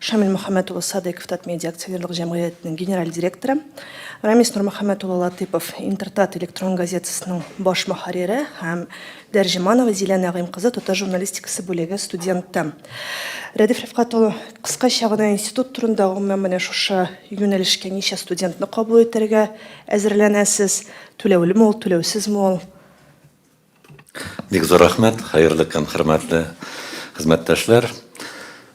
Шамил Мөхәммәт улы Садыйков Татмедиа акционерлык җәмгыятенең генераль директоры, Рамис Нурмөхәммәт улы Латыйпов Интертат электрон газетасының баш мөхәррире һәм Дәрҗеманова Зилә Нәгыйм кызы Тотыш журналистикасы бүлеге студенты. Рәдиф Рифкать улы, кыскача гына институт турында, гомумән менә шушы юнәлешкә ничә студентны кабул итәргә әзерләнәсез? Түләүлеме ул, түләүсезме ул? Бик зур рәхмәт, хәерле көн, хөрмәтле хезмәттәшләр!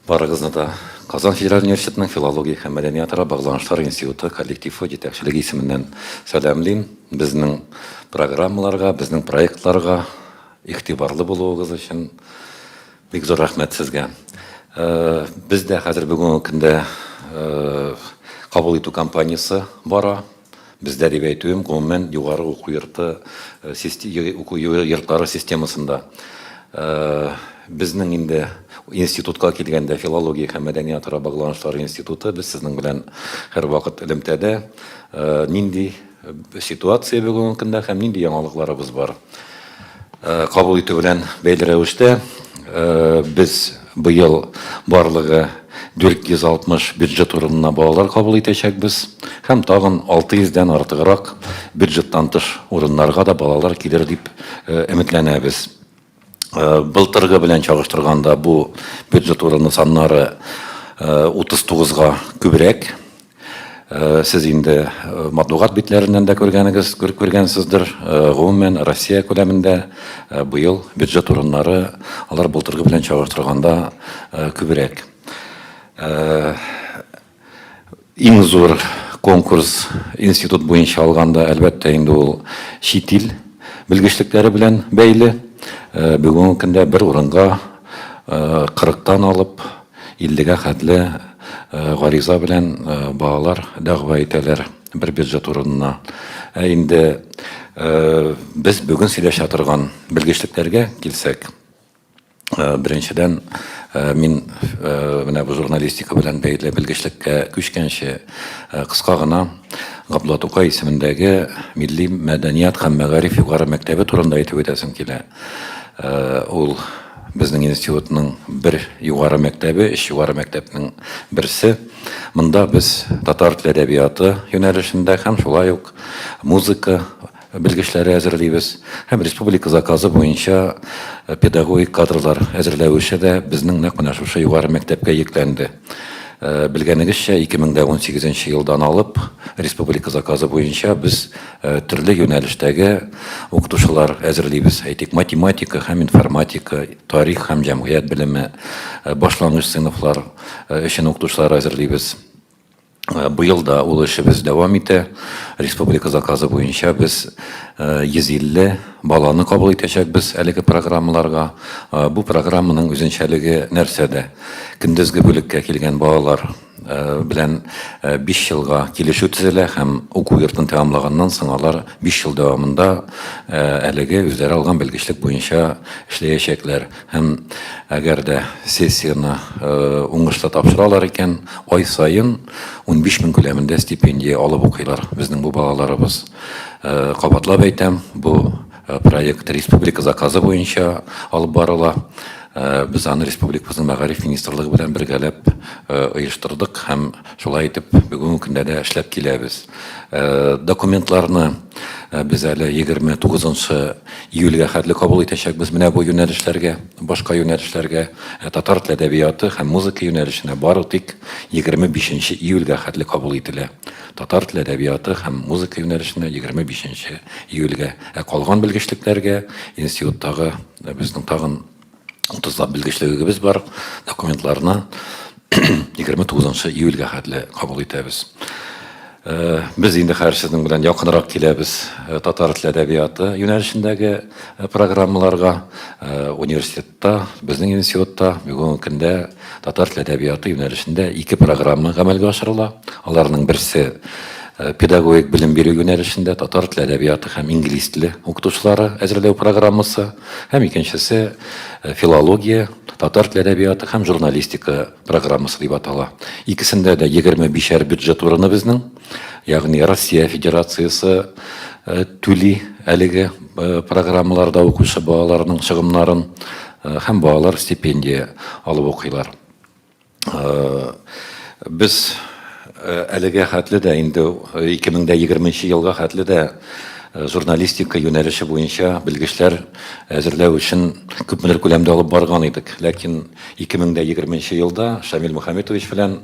Барыгызны да Казан федераль университетының филология һәм мәдәниятара багланышлар институты коллективы җитәкчелеге исеменнән сәламлим. Безнең программаларга, безнең проектларга игътибарлы булуыгыз өчен бик зур рәхмәт сезгә. Бездә хәзер бүгенге көндә кабул итү кампаниясе бара. Бездә дип әйтүем, гомумән, югары уку йорты, уку йортлары системасында. Безнең инде институтка килгәндә, филология һәм мәдәниятара багланышлар институты, без сезнең белән һәрвакыт элемтәдә. Нинди ситуация бүгенге көндә һәм нинди яңалыкларыбыз бар? Кабул итү белән бәйле рәвештә, без быел барлыгы 460 бюджет урынына балалар кабул итәчәкбез һәм тагын 600 дән артыграк бюджеттан тыш урыннарга да балалар килер дип өметләнәбез. Былтыргы белән чагыштырганда бу бюджет урыны саннары 39 га күбрәк. Э, сез инде э, матбугат битләреннән дә күргәнегез күргәнсездер э, гомумән россия күләмендә быел бюджет урыннары алар былтыргы белән чагыштырганда күбрәк иң зур конкурс институт буенча алганда әлбәттә инде ул чит ил белгечлекләре белән бәйле бүгенге көндә бер урынга кырыктан алып Иллегә хәтле гариза белән балалар дәгъва итәләр бер биржа турында. Ә инде без бүген сөйләшә торган белгечлекләргә килсәк, беренчедән, мин менә бу журналистика белән бәйле белгечлеккә күчкәнче, кыска гына Габдулла Тукай исемендәге милли мәдәният һәм мәгариф югары мәктәбе турында әйтеп үтәсем килә. Ул Безнең институтның бер югары мәктәбе, өч югары мәктәпнең берсе. Монда без татар теле әдәбияты юнәлешендә һәм шулай ук музыка белгечләре әзерлибез. Һәм республика заказы буенча педагогик кадрлар әзерләү эше дә безнең нәкъ менә шушы югары мәктәпкә йөкләнде. Белгәнегезчә, 2018 елдан алып, республика заказы буенча без төрле юнәлештәге укытучылар әзерлибез. Әйтик, математика һәм информатика, тарих һәм җәмгыять белеме, башлангыч сыйныфлар өчен укытучылар әзерлибез. Быел да ул эшебез дәвам итә. Республика заказы буенча без 150 баланы кабул итәчәкбез әлеге программаларга. Бу программаның үзенчәлеге нәрсәдә? Көндезге бүлеккә килгән балалар белән биш елга килешү төзелә һәм уку йортын тәмамлаганнан соң алар биш ел дәвамында әлеге үзләре алган белгечлек буенча эшләячәкләр. Һәм әгәр дә сессияне уңышлы тапшыралар икән, ай саен унбиш мең күләмендә стипендия алып укыйлар безнең бу балаларыбыз. Кабатлап әйтәм, бу проект республика заказы буенча алып барыла. Без аны республикабызның мәгариф министрлыгы белән бергәләп оештырдык һәм шулай итеп бүгенге көндә дә эшләп киләбез. Документларны без әле егерме тугызынчы Июльгә хәтле кабул итәчәкбез менә бу юнәлешләргә, башка юнәлешләргә, ә татар тел әдәбияты һәм музыка юнәлешенә бары тик 25 нче июльгә хәтле кабул ителә. Татар тел әдәбияты һәм музыка юнәлешенә 25 нче июльгә, ә калган белгечлекләргә институттагы безнең тагын 30 белгечлегебез бар, документларны 29 июльгә хәтле кабул итәбез. Э, без инде хәзер сезнең белән якынрак киләбез э, татар теле әдәбияты юнәлешендәге э, программаларга университетта безнең институтта бүгенге көндә татар теле әдәбияты юнәлешендә ике программа гамәлгә ашырыла аларның берсе педагогик белем бирү юнәлешендә татар теле әдәбияты һәм инглиз теле укытучылары әзерләү программасы Һәм икенчесе филология, татар теле әдәбияты һәм журналистика программасы дип атала. Икесендә дә 25-әр бюджет урыны безнең, ягъни Россия Федерациясе түли әлеге программаларда укучы балаларның чыгымнарын һәм балалар стипендия алып укыйлар. Без әлегә хәтле дә инде 2020 елга хәтле дә журналистика юнәлеше буенча белгечләр әзерләү эшен күпмедер күләмдә алып барган идек. Ләкин 2020 елда Шамил Мөхәммитович белән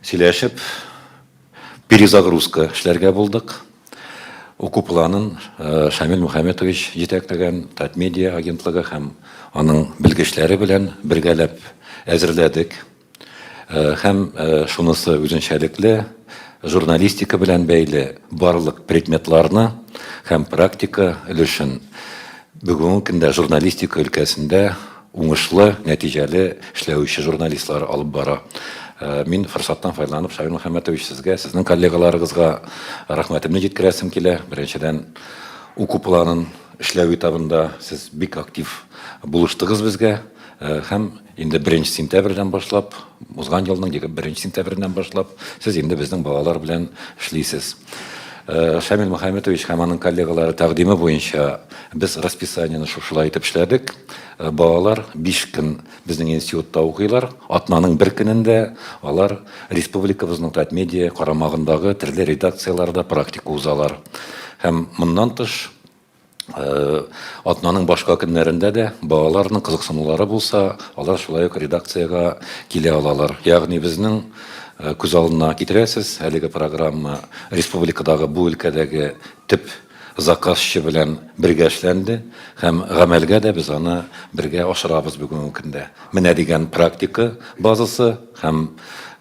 сөйләшеп, Перезагрузка эшләргә булдык. Уку планын Шамил Мөхәммәтович җитәкләгән Татмедиа агентлыгы һәм аның белгечләре белән бергәләп әзерләдек. Һәм шунысы үзенчәлекле, журналистика белән бәйле барлык предметларны һәм практика өлешен бүгенге көндә журналистика өлкәсендә уңышлы, нәтиҗәле эшләүче журналистлар алып бара. Мин форсаттан файдаланып Шамил Мөхәммәтович сезгә, сезнең коллегаларыгызга рәхмәтемне җиткерәсем килә. Беренчедән, уку планын эшләү этабында сез бик актив булыштыгыз безгә һәм инде беренче сентябрьдән башлап, узган елның 21 сентябреннән башлап сез инде безнең балалар белән эшлисез. Шамил Мөхәммәтович һәм аның коллегалары тәкъдиме буенча Без расписаниене шушылай итеп эшләдек. Балалар биш көн безнең институтта укыйлар. Атнаның бер көнендә алар республикабызның Татмедиа карамагындагы төрле редакцияләрдә практика узалар. Һәм моннан тыш, атнаның башка көннәрендә дә балаларның кызыксынулары булса, алар шулай ук редакциягә килә алалар. Ягъни безнең күз алдына китерәсез, әлеге программа республикадагы бу өлкәдәге төп Заказчы белән бергә эшләнде һәм гамәлгә дә без аны бергә ашырабыз бүгенге көндә. Менә дигән практика базасы һәм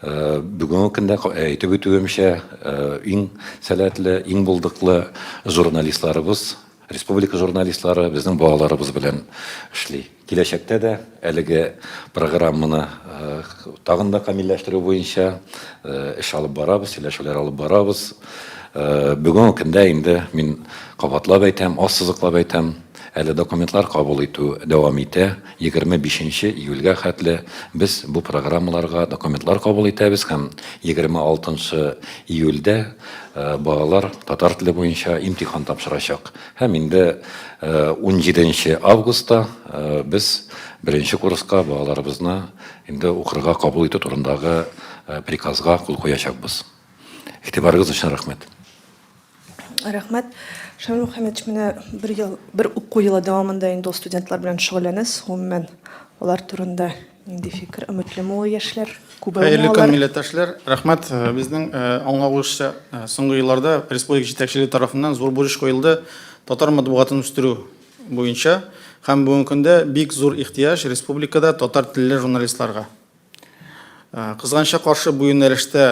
бүгенге көндә әйтеп үтүемчә, иң сәләтле, иң булдыклы журналистларыбыз, республика журналистлары безнең балаларыбыз белән эшли. Киләчәктә дә әлеге программаны тагын да камилләштерү буенча эш алып барабыз, сөйләшүләр алып барабыз. Бүгенге көндә инде мин кабатлап әйтәм, ассызыклап әйтәм, әле документлар кабул итү дәвам итә. 25 июльгә хәтле без бу программаларга документлар кабул итәбез һәм 26 июльдә балалар татар теле буенча имтихан тапшырачак. Һәм инде унҗиденче августта без беренче курска балаларыбызны инде укырга кабул итү турындагы приказга кул куячакбыз. Игътибарыгыз өчен рәхмәт. Рәхмәт. Шамил Мөхәммәтович, менә бер ел, бер уку елы дәвамында инде ул студентлар белән шөгыльләнәсез. Гомумән, алар турында Нинди фикер, өметлеме ул яшьләр? Күбәйми алар. Хәерле көн, милләттәшләр! Рәхмәт! Безнең аңлавыбызча, соңгы елларда республика җитәкчелеге тарафыннан зур бурыч куелды татар матбугатын үстерү буенча һәм бүгенге көндә бик зур ихтыяҗ республикада татар телле журналистларга. Кызганычка каршы, бу юнәлештә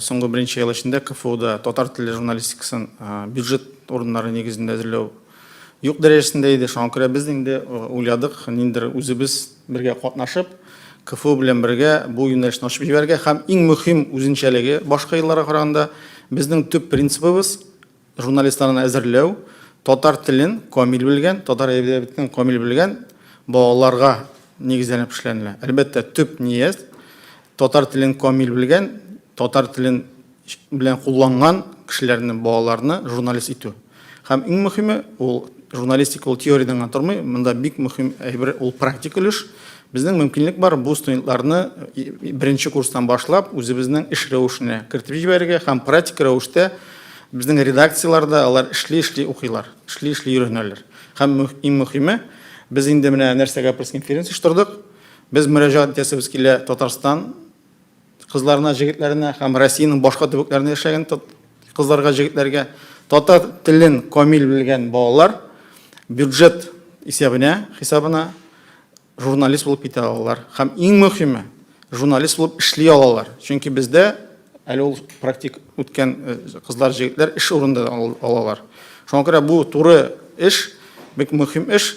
соңгы берничә ел эчендә КФУда татар телле журналистикасын бюджет урыннары нигезендә әзерләү Юк дәрәҗәсендә иде, шуңа күрә без инде уйладык, ниндидер үзебез бергә катнашып, КФУ белән бергә бу юнәлешне ачып җибәрергә һәм иң мөһим үзенчәлеге башка елларга караганда безнең төп принцибыбыз журналистларны әзерләү, татар телен камил белгән, татар әдәбиятын камил белгән балаларга нигезләнеп эшләнелә. Әлбәттә, төп ният татар телен камил белгән, татар телен белән кулланган кешеләрне, балаларны журналист итү. Һәм иң мөхиме, ул журналистика ул теориядән генә тормый, монда бик мөхим әйбер ул практик өлеш. Безнең мөмкинлек бар бу студентларны беренче курстан башлап үзебезнең эш рәвешенә кертеп җибәрергә һәм практик рәвештә безнең редакцияләрдә алар эшли-эшли укыйлар, эшли-эшли өйрәнәләр. Һәм иң мөхиме, без инде менә нәрсәгә пресс-конференция оештырдык. Без мөрәҗәгать итәсебез килә Татарстан Кызларына, җегетләренә һәм Россиянең башка төбәкләрендә яшәгән кызларга, җегетләргә татар телен камил белгән балалар бюджет исәбенә, хисабына журналист булып китә алалар. Һәм иң мөһиме, журналист булып эшли алалар. Чөнки бездә әле ул практик үткән э, кызлар, җегетләр эш урында алалар. Шуңа күрә бу туры эш, бик мөһим эш.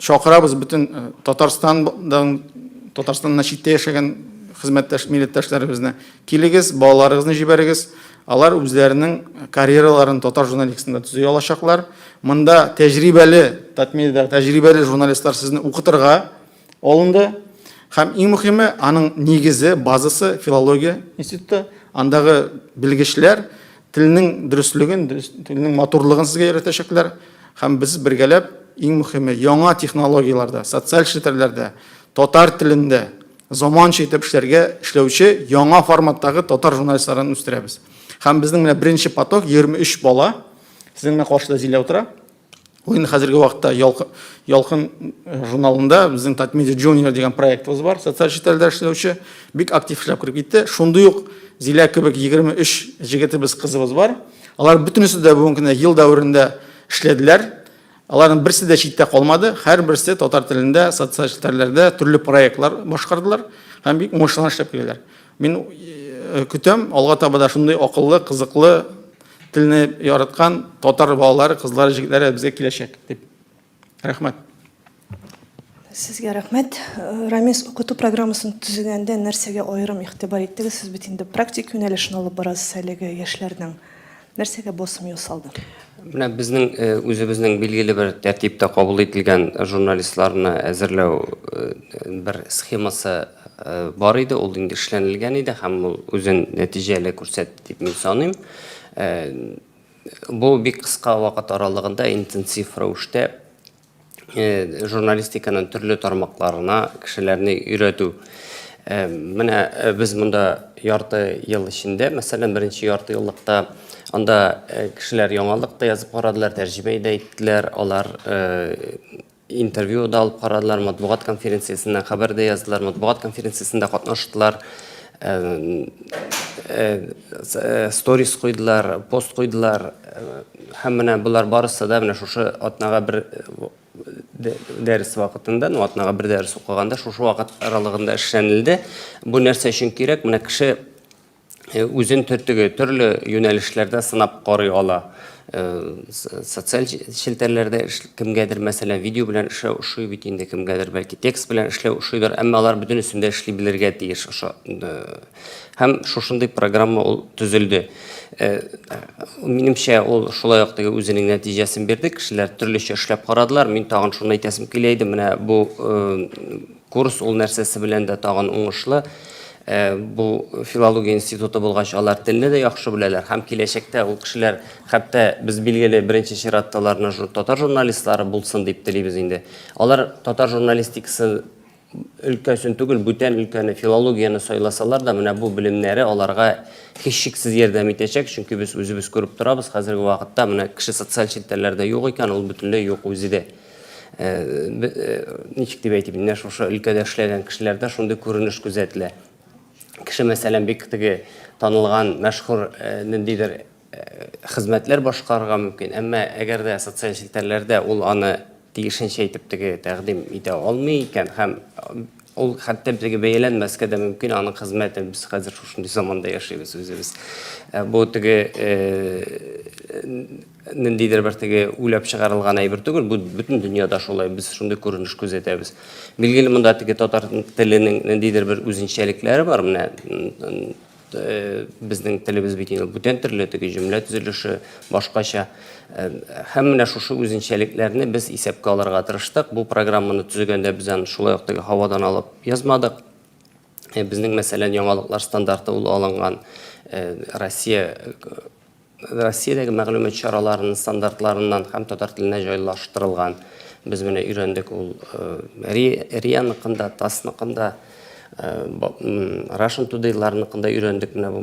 Чакырабыз бөтен Татарстандан, Татарстаннан читтә яшәгән хезмәттәш милләттәшләребезне. Килегез, балаларыгызны җибәрегез. Алар үзләренең карьераларын татар журналистикасында төзи алачаклар. Монда тәҗрибәле, Татмедиадагы тәҗрибәле журналистлар сезне укытырга алынды. Һәм иң мөхиме, аның нигезе, базасы, филология институты. Андагы белгечләр Телнең дөреслеген, телнең матурлыгын сезгә өйрәтәчәкләр һәм без бергәләп иң мөхиме яңа технологияләрдә, социаль челтәрләрдә, татар телендә заманча итеп эшләргә эшләүче яңа форматтагы татар журналистларын үстерәбез. Һәм безнең менә беренче поток 23 бала. Сезнең менә каршыда Зилә утыра. Уен хәзерге вакытта Ялкын, Ялкын э, журналында безнең Татмедиа Junior дигән проектыбыз бар, социаль челтәрдә эшләүче, бик актив эшләп кереп китте. Шундый ук Зилә кебек 23 җегетебез, кызыбыз бар. Алар бөтенесе дә бүгенге көндә ел дәверендә эшләделәр. Аларның берсе дә читтә калмады. Һәрберсе татар телендә, социаль челтәрләрдә төрле проектлар башкардылар һәм бик уңышлы эшләп киләләр. Мин э, көтәм, алга таба да шундый акыллы, кызыклы Телне яраткан татар балалары, кызлары, җегетләре безгә киләчәк дип. Рәхмәт. Сезгә рәхмәт. Рамис укыту программасын төзегәндә нәрсәгә аерым игътибар иттегез? Сез бит инде практик юнәлешне алып барасыз әлеге яшьләрнең. Нәрсәгә басым ясалды? Менә безнең үзебезнең билгеле бер тәртиптә кабул ителгән журналистларны әзерләү бер схемасы Бар иде, ул инде эшләнелгән иде һәм ул үзен нәтиҗәле күрсәтте дип мин саныйм. Бу бик кыска вакыт аралыгында интенсив рәвештә журналистиканың төрле тармакларына кешеләрне өйрәтү. Менә без монда ярты ел эчендә, мәсәлән, беренче ярты еллыкта анда кешеләр яңалык та язып карадылар, тәрҗемә дә иттеләр, алар Интервью да алып карадылар, матбугат конференциясеннән хәбәр дә яздылар, матбугат конференциясендә катнаштылар, сторис куйдылар, пост куйдылар. Һәм менә болар барысы да менә шушы атнага бер дәрес вакытында, ну атнага бер дәрес укыганда шушы вакыт аралыгында эшләнелде. Бу нәрсә өчен кирәк? Менә кеше э, үзен төртеге төрле юнәлешләрдә сынап карый ала. Э, социаль челтәрләрдә кемгәдер, мәсәлән, видео белән эшләү ошый бит инде кемгәдер, бәлки текст белән эшләү ошыйдыр, әмма алар бөтен өстендә эшли белергә тиеш. Һәм шушындый программа ул төзелде. Э, минемчә, ул шулай ук теге үзенең нәтиҗәсен бирде. Кешеләр төрлечә эшләп карадылар. Мин тагын шуны әйтәсем килә иде, менә бу э, Курс ул нәрсәсе белән дә тагын уңышлы, бу филология институты булгач, алар телне дә яхшы беләләр һәм киләчәктә ул кешеләр, хәтта без билгеле беренче чиратта аларны татар журналистлары булсын дип телибез инде. Алар татар журналистикасы өлкәсен түгел, бүтән өлкәне, филологияне сайласалар да, менә бу белемнәре аларга һичшиксез ярдәм итәчәк, чөнки без үзебез күреп торабыз, хәзерге вакытта менә кеше социаль челтәрләрдә юк икән, ул бөтенләй юк үзе дә. Ничек дип әйтим, менә шушы өлкәдә эшләгән кешеләрдә шундый күренеш күзәтелә. Кеше, мәсәлән, бик теге танылган, мәшһүр ниндидер хезмәтләр башкарырга мөмкин, әмма әгәр дә социаль челтәрләрдә ул аны тиешенчә итеп теге тәкъдим итә алмый икән һәм ул хәтта теге бәяләнмәскә дә мөмкин аның хезмәте. Без хәзер шушындый заманда яшибез үзебез. Бу теге ниндидер бер теге уйлап чыгарылган әйбер түгел, бу бөтен дөньяда шулай, без шундый күренеш күзәтәбез. Билгеле, монда теге татар теленең ниндидер бер үзенчәлекләре бар, менә безнең телебез бит инде бүтән төрле, теге җөмлә төзелеше башкача. Һәм менә шушы үзенчәлекләрне без исәпкә алырга тырыштык. Бу программаны төзегәндә без аны шулай ук теге һавадан алып язмадык. Безнең, мәсәлән, яңалыклар стандарты ул алынган Россия Россиядәге мәгълүмат чараларының стандартларыннан һәм татар теленә җайлаштырылган. Без менә өйрәндек ул РИА ныкында, ТАСС ныкында, Russian Today лар ныкында өйрәндек менә бу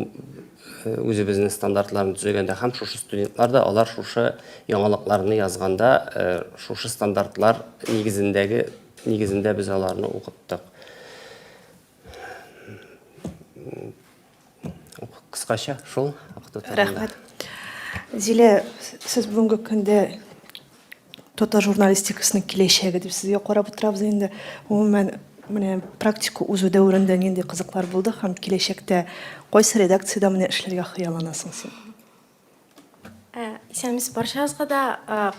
үзебезнең стандартларны төзегәндә һәм шушы студентлар да алар шушы яңалыкларны язганда шушы стандартлар нигезендәге нигезендә без аларны укыттык. Кыскача шул. Рәхмәт. Зилә, сез бүгенге көндә татар журналистикасының киләчәге дип сезгә карап утырабыз инде. Гомумән, менә практика узу дәверендә нинди кызыклар булды һәм киләчәктә кайсы редакциядә менә эшләргә хыялланасың син? Ә, исәнмесез барчагызга да.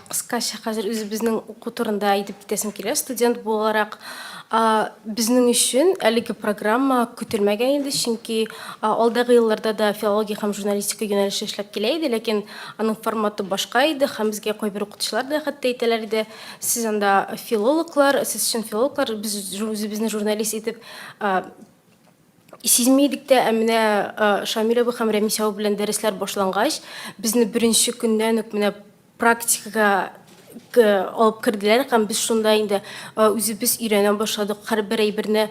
Кыскача хәзер үзебезнең уку турында әйтеп китәсем килә. Студент буларак, безнең өчен әлеге программа көтелмәгән иде, чөнки алдагы елларда да филология һәм журналистика юнәлеше эшләп килә иде, ләкин аның форматы башка иде һәм безгә кайбер укытучылар да хәтта әйтәләр иде, сез анда филологлар, сез чын филологлар, без үзебезне журналист итеп Сизми идек тә, ә менә Шамил абый һәм Рәмис абый белән дәресләр башлангач, безне беренче көннән үк менә практикага алып керделәр һәм без шунда инде үзебез өйрәнә башладык. Һәрбер әйберне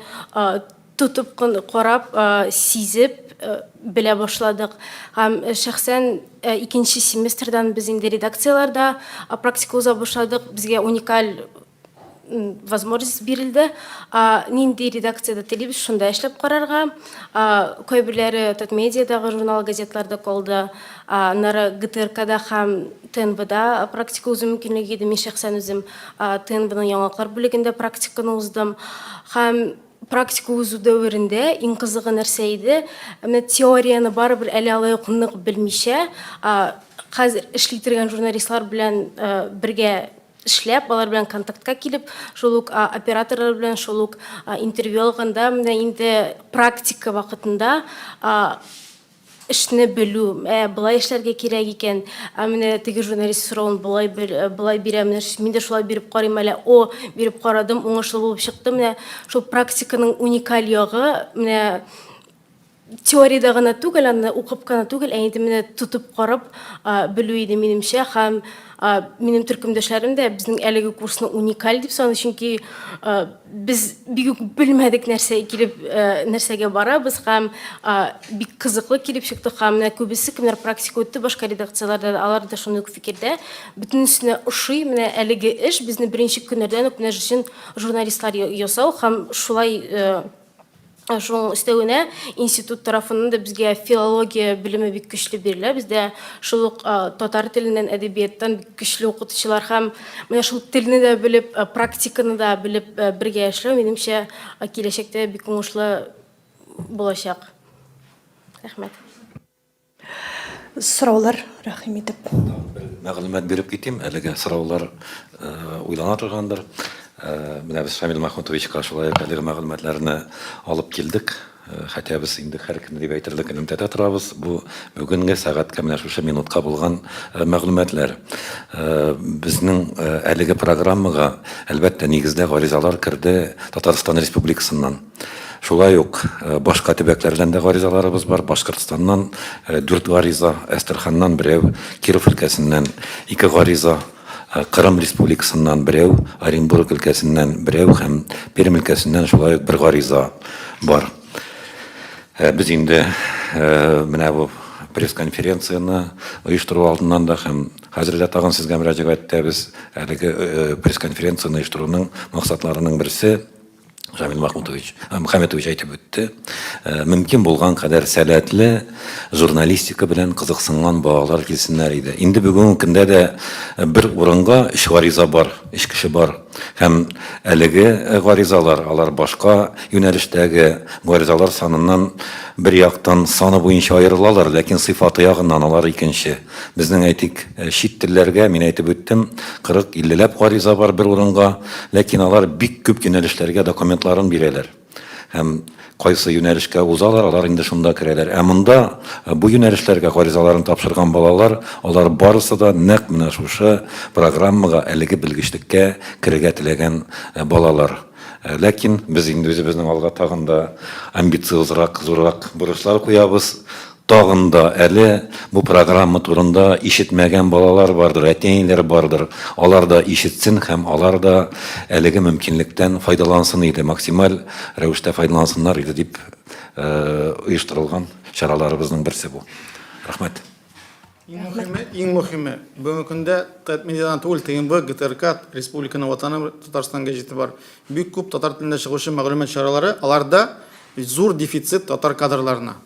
тотып карап, сизеп белә башладык. Һәм шәхсән икенче семестрдан без инде редакцияләрдә практика уза башладык. Безгә уникаль возможность бирелде. Нинди редакциядә телибез, шунда эшләп карарга. Кайберләре Татмедиадагы журнал-газетларда калды. Аннары ГТРКда һәм ТНВда практика узу мөмкинлеге иде. Мин шәхсән үзем ТНВның яңалыклар бүлегендә практиканы уздым. Һәм практика узу дәверендә иң кызыгы нәрсә иде? Менә теорияне барыбер әле алай ук нык белмичә, хәзер эшли торган журналистлар белән бергә эшләп, алар белән контактка килеп, шул ук операторлар белән шул ук интервью алганда менә инде практика вакытында эшне белү, ә, болай эшләргә кирәк икән, ә менә теге журналист соравын болай болай бирә, менә мин дә шулай биреп карыйм әле, о, биреп карадым, уңышлы булып чыкты, менә шул практиканың уникаль ягы, менә Теориядә генә түгел, аны укып кына түгел, ә инде менә тотып карап белү иде минемчә һәм минем төркемдәшләрем дә безнең әлеге курсны уникаль дип саный, чөнки без бик үк белмәдек нәрсә килеп нәрсәгә барабыз һәм бик кызыклы килеп чыкты һәм менә күбесе кемнәр практика үтте башка редакцияләрдә алар да шундый ук фикердә бөтенесенә ошый менә әлеге эш безне беренче көннәрдән үк менә өчен журналистлар ясау һәм шулай Шуның өстәвенә институт тарафыннан да безгә филология белеме бик көчле бирелә. Бездә шул ук татар теленнән, әдәбияттан бик көчле укытучылар һәм менә шул телне дә белеп, практиканы да белеп бергә эшләү, минемчә, киләчәктә бик уңышлы булачак. Рәхмәт. Сораулар, рәхим итеп. Мәгълүмат биреп китим, әлегә сораулар уйлана торгандыр. Менә без Шамил Мәхмүтовичка шулай ук әлеге мәгълүматларны алып килдек. Хәтта без инде һәркемне дип әйтерлек элемтәдә торабыз. Бу бүгенге сәгатькә менә шушы минутка булган мәгълүматлар. Безнең әлеге программага, әлбәттә, нигездә гаризалар керде Татарстан Республикасыннан. Шулай ук башка төбәкләрдән дә гаризаларыбыз бар. Башкортстаннан дүрт гариза, Әстерханнан берәү, Киров өлкәсеннән ике гариза, Кырым Республикасыннан берәү, Оренбург өлкәсеннән берәү һәм Пермь өлкәсеннән шулай ук бер гариза бар. Без инде менә бу пресс-конференцияне оештыру алдыннан да һәм хәзер дә тагын сезгә мөрәҗәгать итәбез. Әлеге пресс-конференцияне оештыруның максатларының берсе, Рамил Махмутович, э, Мөхәммәтович әйтеп үтте. Э, мөмкин булган кадәр сәләтле журналистика белән кызыксынган балалар килсеннәр иде. Инде бүгенге көндә дә э, бер урынга өч гариза бар, өч кеше бар. Һәм әлеге гаризалар, алар башка юнәлештәге гаризалар саныннан бер яктан саны буенча аерылалар, ләкин сыйфаты ягыннан алар икенче. Безнең, әйтик, э, чит телләргә, мин әйтеп үттем, 40-50 ләп гариза бар бер урынга, ләкин алар бик күп юнәлешләргә документларын бирәләр. Һәм кайсы юнәлешкә узалар, алар инде шунда керәләр. Ә монда э, бу юнәлешләргә гаризаларын тапшырган балалар, алар барысы да нәкъ менә шушы программага, әлеге белгечлеккә керергә теләгән э, балалар. Э, ләкин без инде үзебезнең алга тагын да амбициозрак, зуррак бурычлар куябыз. Тагын да әле бу программа турында ишетмәгән балалар бардыр, әти-әниләр бардыр. Алар да ишетсен һәм алар да әлеге мөмкинлектән файдалансын иде, максималь рәвештә файдалансыннар иде дип оештырылган чараларыбызның берсе бу. Рәхмәт. Иң мөхиме, иң мөхиме, бүгенге көндә ТЭТ медиадан түгел, ТНВ, ГТРК, республиканың Ватаным Татарстан гәҗите бар. Бик күп татар телендә чыгучы мәгълүмат чаралары, аларда зур дефицит татар кадрларына.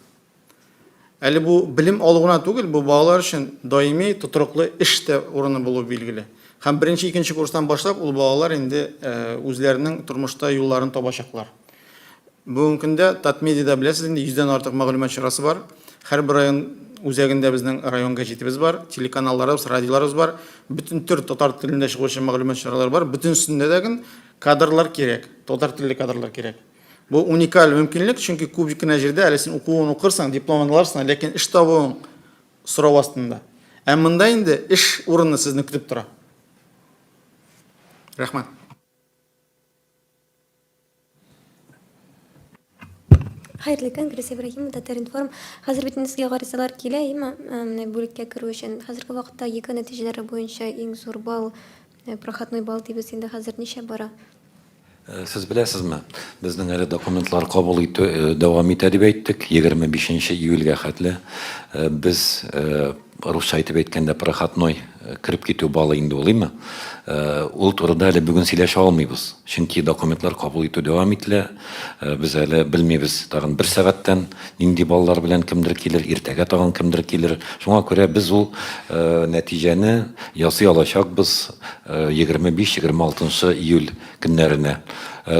Әле бу белем алу гына түгел, бу балалар өчен даими тотрыклы эш тә урыны булуы билгеле. Һәм беренче, икенче курстан башлап ул балалар инде үзләренең тормышта юлларын табачаклар. Бүгенге көндә Татмедиада беләсез инде 100 дән артык мәгълүмат чарасы бар. Һәрбер район үзәгендә безнең район гәҗитебез бар, телеканалларыбыз, радиоларыбыз бар. Бөтен төр татар телендә чыгучы мәгълүмат чаралары бар. Бөтенесендә дә кадрлар кирәк, татар телле кадрлар кирәк. Бу уникаль мөмкинлек, чөнки күбик кенә җирдә әле син укуын укырсың, дипломын аларсың, ләкин эш табуың сорау астында. Ә монда инде эш урыны сезне көтеп тора. Рәхмәт. Хәерле көн, Грис Ибраһимова, Татар-информ. Хәзер бит сезгә гаризалар килә, әйеме? Менә бүлеккә керү өчен. Хәзерге вакытта ЕГЭ нәтиҗәләре буенча иң зур балл Э, Прохатной бал дибез инде хәзер ничә бара? Э, сез беләсезме, безнең әле документлар кабул итү э, дәвам итә дип әйттек, 25 июльгә хәтле. Э, без русча әйтеп әйткәндә проходной кереп китү балы инде ул име. Ул турыда әле бүген сөйләшә алмыйбыз. Чөнки документлар кабул итү дәвам ителә. Без әле белмибез тагын бер сәгатьтән Нинди балалар белән кемдер килер, иртәгә тагын кемдер килер. Шуңа күрә без ул нәтиҗәне ясый алачакбыз 25-26 нчы июль көннәренә.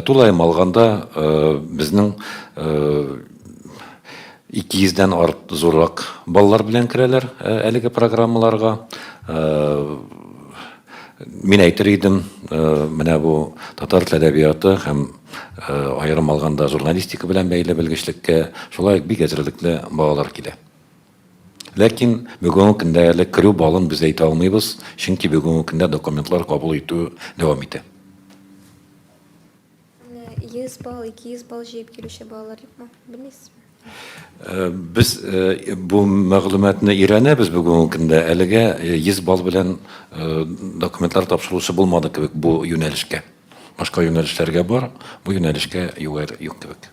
Тулаем алганда, безнең 200 дән зуррак балалар белән керәләр әлеге программаларга. Мин әйтер идем, менә бу татар тел әдәбияты һәм Аерым алганда, журналистика белән бәйле белгечлеккә шулай ук бик әзерлекле балалар килә. Ләкин бүгенге көндә әле керү балын без әйтә алмыйбыз, чөнки бүгенге көндә документлар кабул итү дәвам итә. 100 балл, 200 балл җыеп килүче балалар юкмы, белмисезме? Без бу мәгълүматны өйрәнәбез бүгенге көндә. Әлегә 100 балл белән документлар тапшыручы булмады кебек бу юнәлешкә. Башка юнәлешләргә бар, бу юнәлешкә югәр юк кебек.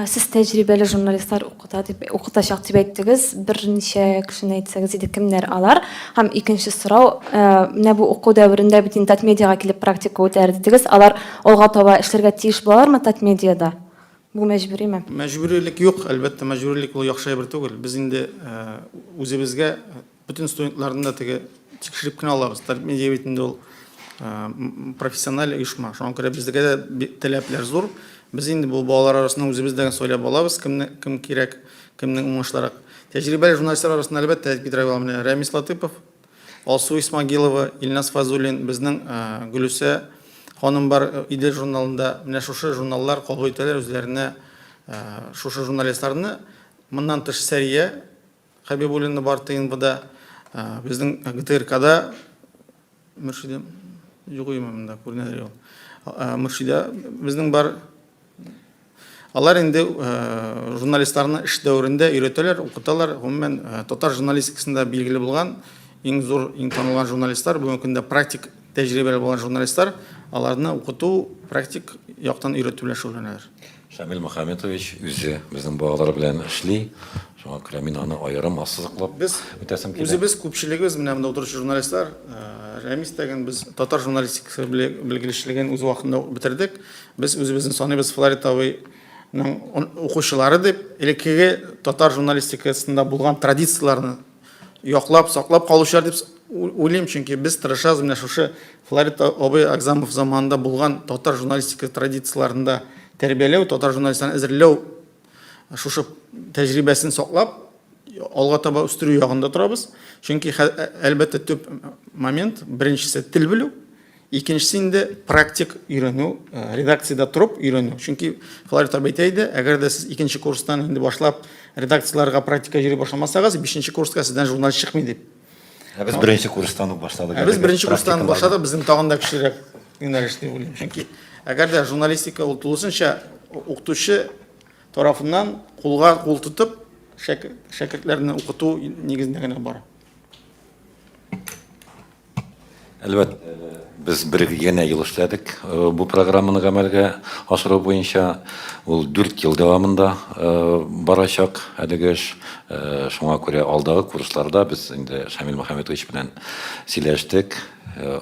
Сез тәҗрибәле журналистлар укыта дип укытачак дип әйттегез. Берничә кешене әйтсәгез иде, кемнәр алар? Һәм икенче сорау, менә бу уку дәверендә бит инде Татмедиага килеп практика үтәр дидегез. Алар алга таба эшләргә тиеш булалармы Татмедиада? Бу мәҗбүриме? Мәҗбүрилек юк, әлбәттә, мәҗбүрилек ул яхшы әйбер түгел. Без инде үзебезгә Бөтен студентларны да теге тикшереп кенә алабыз. Талип медиа бит инде ул профессиональ оешма. Шуңа күрә безгә дә таләпләр зур. Без инде бу балалар арасында үзебез дә сайлап алабыз, кемне кем кирәк, кемнең уңышлырак. Тәҗрибәле журналистлар арасында, әлбәттә, әйтеп бетерә алам менә Рәмис Латыпов, Алсу Исмагилова, Илназ Фазуллин, безнең Гөлүсә ханым бар Идел журналында. Менә шушы журналлар кабул итәләр үзләренә шушы журналистларны. Моннан тыш Сәрия Хәбибуллинны бар ТНБда, безнең ГТРКда Мөршидә юк имя монда күренәдер ул. Мөршидә безнең бар. Алар инде журналистларны эш дәверендә өйрәтәләр, укыталар. Гомумән, татар журналистикасында билгеле булган иң зур, иң танылган журналистлар, бүгенге көндә практик тәҗрибәле булган журналистлар, аларны укыту, практик яктан өйрәтү белән шөгыльләнәләр. Шамил Мөхәммәтович үзе безнең балалар белән эшли. Шуңа күрә мин аны аерым ассызыклап Без үтәсем килә. Үзебез күпчелегебез менә монда утыручы журналистлар, э, Рәмис тәген без татар журналистикасы беле- белгечлеген үз вакытында ук бетердек. Без үзебезне саныйбыз Флорид абыйның он- укучылары дип, элеккеге татар журналистикасында булган традицияләрне яклап, саклап калучылар дип уйлыйм, чөнки без тырышабыз менә шушы Флорид абый Акзамов заманында булган татар журналистика традицияләрендә тәрбияләү, татар журналистларын әзерләү шушы тәҗрибәсен саклап, алга таба үстерү ягында торабыз. Чөнки әлбәттә төп момент беренчесе тел белү, Икенчесе инде практик өйрәнү, редакциядә торып өйрәнү. Чөнки Флавий Таб әйтә иде, әгәр дә сез икенче курстан инде башлап редакцияләргә практика йөри башламасагыз, бишенче курска сездән журналист чыкмый дип. Ә без беренче курстан ук башладык. Ә без беренче курстан башладык, безнең тагын да көчлерәк юнәлеш дип уйлыйм. Чөнки әгәр дә журналистика ул тулысынча укытучы тарафыннан кулга кул тотып шәкертләрне укыту нигезендә генә бара. Әлбәттә, без бер генә ел эшләдек бу программаны гамәлгә ашыру буенча. Ул дүрт ел дәвамында барачак әлеге эш. Шуңа күрә алдагы курсларда без инде Шамил Мөхәммәтович белән сөйләштек.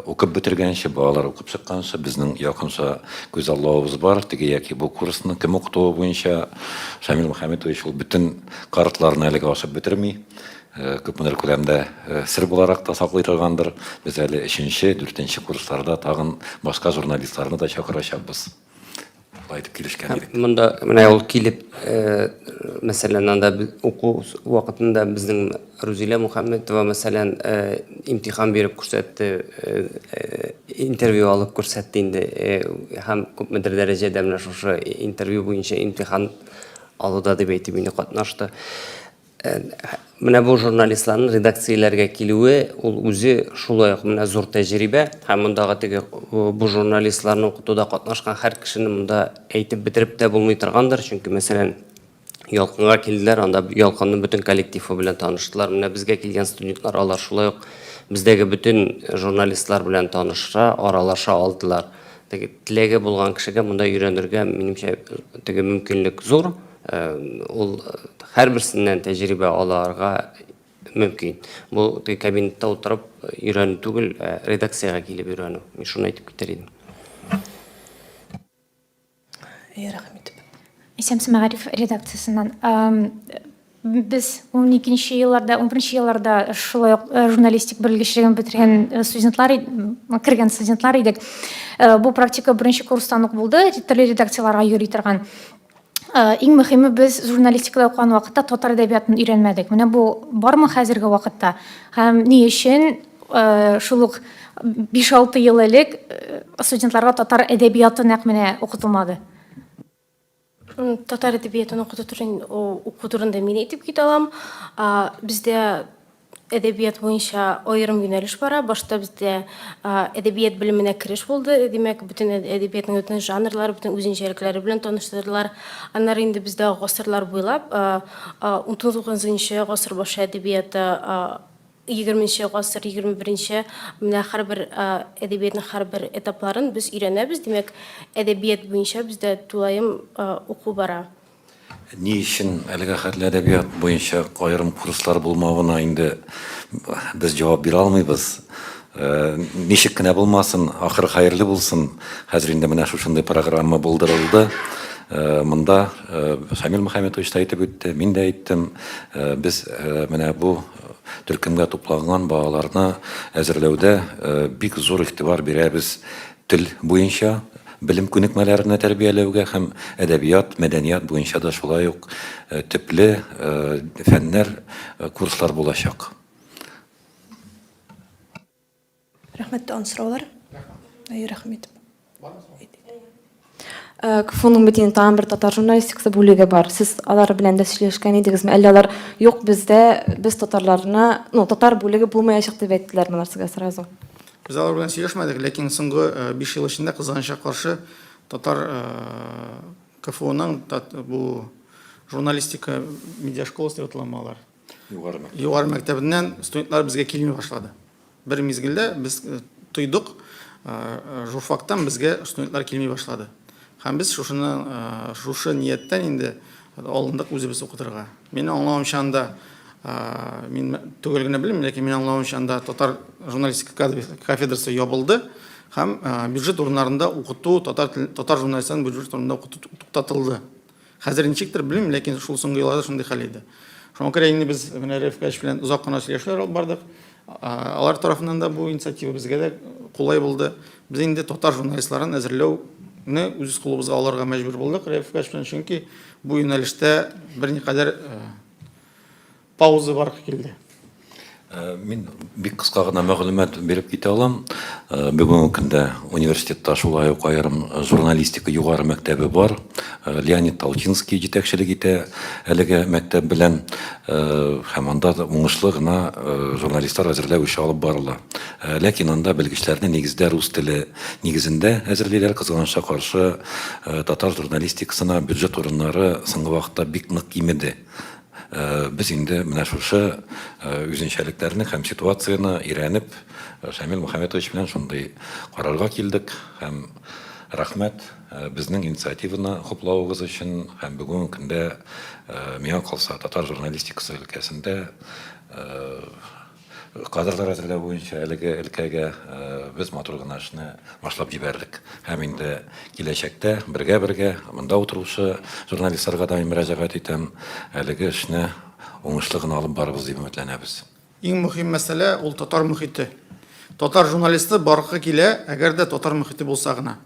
Укып бетергәнче, балалар укып чыкканчы безнең якынча күзаллавыбыз бар. Теге яки бу курсны кем укытуы буенча Шамил Мөхәммәтович ул бөтен картларны әлегә ашап бетерми. Күпмедер күләмдә сер буларак та саклый торгандыр. Без әле өченче, дүртенче курсларда тагын башка журналистларны да чакырачакбыз. Шулай итеп килешкән идек. Монда менә ул килеп, мәсәлән, анда уку вакытында безнең Рузилә Мухәммәтова, мәсәлән, имтихан биреп күрсәтте, интервью алып күрсәтте инде. Һәм күпмедер дәрәҗәдә менә шушы интервью буенча имтихан алуда дип әйтим инде катнашты. Э, менә бу журналистларның редакцияләргә килүе ул үзе шулай ук менә зур тәҗрибә һәм мондагы теге бу журналистларны укытуда катнашкан һәр кешене монда әйтеп бетереп тә булмый торгандыр чөнки мәсәлән ялкынга килделәр анда ялкынның бөтен коллективы белән таныштылар менә безгә килгән студентлар алар шулай ук бездәге бөтен журналистлар белән таныша аралаша алдылар теге теләге булган кешегә монда өйрәнергә минемчә теге мөмкинлек зур Ул һәрберсеннән тәҗрибә аларга мөмкин. Бу теге кабинетта утырып өйрәнү түгел, ә редакциягә килеп өйрәнү. Мин шуны әйтеп китәр идем. Әйе, рәхмәт. Исәмсез мәгариф редакциясеннән. Без уникенче елларда, унберенче елларда шулай ук журналистик белгечлеген бетергән студентлар, кергән студентлар идек. Бу практика беренче курстан ук булды, төрле редакцияләргә йөри торган. Иң мөхиме без журналистикада укыган вакытта татар әдәбиятын өйрәнмәдек. Менә бу бармы хәзерге вакытта? Һәм ни өчен шул ук 5-6 ел элек студентларга татар әдәбияты нәкъ менә укытылмады? Татар әдәбиятын укыту турында мин әйтеп китә алам. Бездә әдәбият буенча аерым юнәлеш бара. Башта бездә әдәбият белеменә кереш булды. Димәк, бөтен әдәбиятның бөтен жанрлары, бөтен үзенчәлекләре белән таныштырдылар. Аннары инде бездә гасырлар буйлап 19-20 гасыр башы әдәбияты 20 гасыр, 21-нче менә һәрбер әдәбиятның һәрбер этапларын без өйрәнәбез. Димәк, әдәбият буенча бездә тулаем уку бара. Ни өчен әлегә хәтле әдәбият буенча аерым курслар булмавына инде без җавап бирә алмыйбыз. Ничек кенә булмасын, ахыры хәерле булсын, хәзер инде менә шушындый программа булдырылды. Монда Шамил Мөхәммәтович та әйтеп үтте, мин дә әйттем, без менә бу төркемгә тупланган балаларны әзерләүдә бик зур игътибар бирәбез, Тел буенча белем күнекмәләренә тәрбияләүгә һәм әдәбият, мәдәният буенча да шулай ук төпле фәннәр, курслар булачак. Рәхмәт, тагын сораулар? Әйе, рәхмәт. КФУның бит инде тагын бер татар журналистикасы бүлеге бар. Сез алар белән дә сөйләшкән идегезме? Әллә алар юк бездә, без татарларны, ну, татар бүлеге булмаячак дип әйттеләрме алар сезгә сразу? Без алар белән сөйләшмәдек, ләкин соңгы 5 ел эчендә кызганычка каршы татар КФУның бу журналистика медиашколасы дип атала алар. Югары мәктәп. Югары мәктәбеннән студентлар безгә килми башлады. Бер мизгелдә без э, тойдык, э, журфактан безгә студентлар килми башлады. Һәм без шушыны, э, шушы нияттән инде алындык үзебез укытырга. Мин аңлавымча анда мин түгел генә белмим, ләкин мин аңлавымча анда татар журналистика кафедрасы ябылды һәм бюджет урыннарында укыту татар татар журналистларын бюджет урынында укыту туктатылды. Хәзер ничектер белмим, ләкин шул соңгы елларда шундый хәл иде. Шуңа күрә инде без менә Рәф Гач белән озак кына сөйләшүләр алып бардык. Алар тарафыннан да бу инициатива безгә дә кулай булды. Без инде татар журналистларын әзерләүне үз кулыбызга алырга мәҗбүр булдык Рәф Гач белән, чөнки бу юнәлештә берникадәр Пауза баргы килде. Мин бик кыска гына мәгълүмат биреп китә алам. Бүгенге көндә университетта шулай ук аерым журналистика югары мәктәбе бар. Леонид Толчинский җитәкчелек итә әлеге мәктәп белән һәм анда да уңышлы гына журналистлар әзерләү эше алып барыла. Ләкин анда белгечләрне нигездә рус теле нигезендә әзерлиләр. Кызганычка каршы, татар журналистикасына бюджет урыннары соңгы вакытта бик нык кимеде. Без инде менә шушы үзенчәлекләрне һәм ситуацияне өйрәнеп, Шамил Мөхәммәтович белән шундый карарга килдек һәм рәхмәт безнең инициативаны хуплавыгыз өчен һәм бүгенге көндә, миңа калса, татар журналистикасы өлкәсендә, Кадрлар әзерләү буенча әлеге өлкәгә без матур гына эшне башлап җибәрдек. Һәм инде киләчәктә бергә-бергә монда утыручы журналистларга да мин мөрәҗәгать итәм, әлеге эшне уңышлы гына алып барырбыз дип өметләнәбез. Иң мөһим мәсьәлә ул татар мөхите. Татар журналисты баргы килә, әгәр дә татар мөхите булса гына.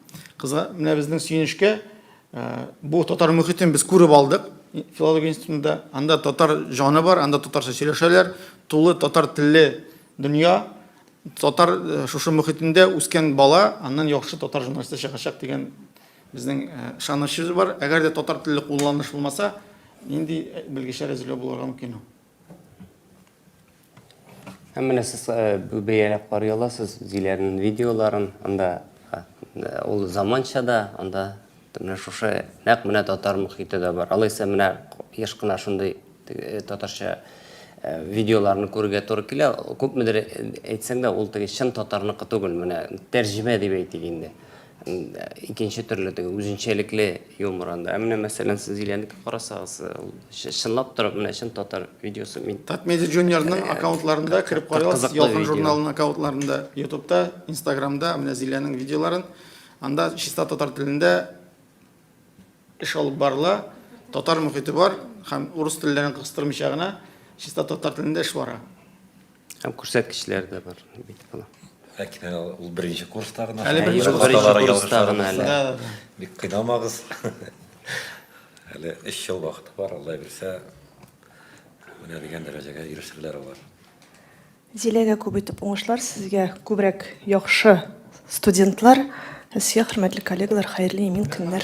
Кызга, менә безнең сөенечкә, Э, бу татар мөхитен без күреп алдык филология институтында. Анда татар жаны бар, анда татарча сөйләшәләр, тулы татар телле дөнья. Татар э, шушы мөхитендә үскән бала, аннан яхшы татар журналисты чыгачак дигән безнең ышанычыбыз э, бар. Әгәр дә татар телле кулланыш булмаса, нинди белгечләр әзерләү булырга мөмкин ул? Һәм менә сез э, бәяләп карый аласыз Зиләрнең видеоларын, анда э, ул заманча да, анда менә шушы нәкъ менә татар мөхите дә бар. Алайса менә еш кына шундый э, татарча видеоларны күрергә туры килә. Күпмедер әйтсәң дә, ул теге чын татарныкы түгел, менә тәрҗемә дип әйтик инде. икенче төрле теге үзенчәлекле юмор анда. Ә менә мәсәлән сез Зиләнеке карасагыз, ул чы- чынлап торып менә чын татар видеосы. Мин Татмедиа Junior-ның аккаунтларында кереп карыйбыз, кызыклы Ялкын видео. журналының аккаунтларында, Ютубта, Инстаграмда менә Зиләнең видеоларын. Анда чиста татар телендә эш алып барыла, татар мөхите бар һәм урыс телләрен кыстырмыйча гына чиста татар телендә эш бара. Һәм күрсәткечләр дә бар бит була. Ләкин әле ул беренче курста гына. Әле беренче Бер курста. хаталар Беренче курста гына язышабыз. әле. Да, да. Бик кыйнамагыз. Әле өч ел вакыты бар, Алла бирсә, менә дигән дәрәҗәгә ирешерләр алар. Зиләгә күп итеп уңышлар, сезгә күбрәк яхшы студентлар, ә сезгә, хөрмәтле коллегалар, хәерле имин көннәр!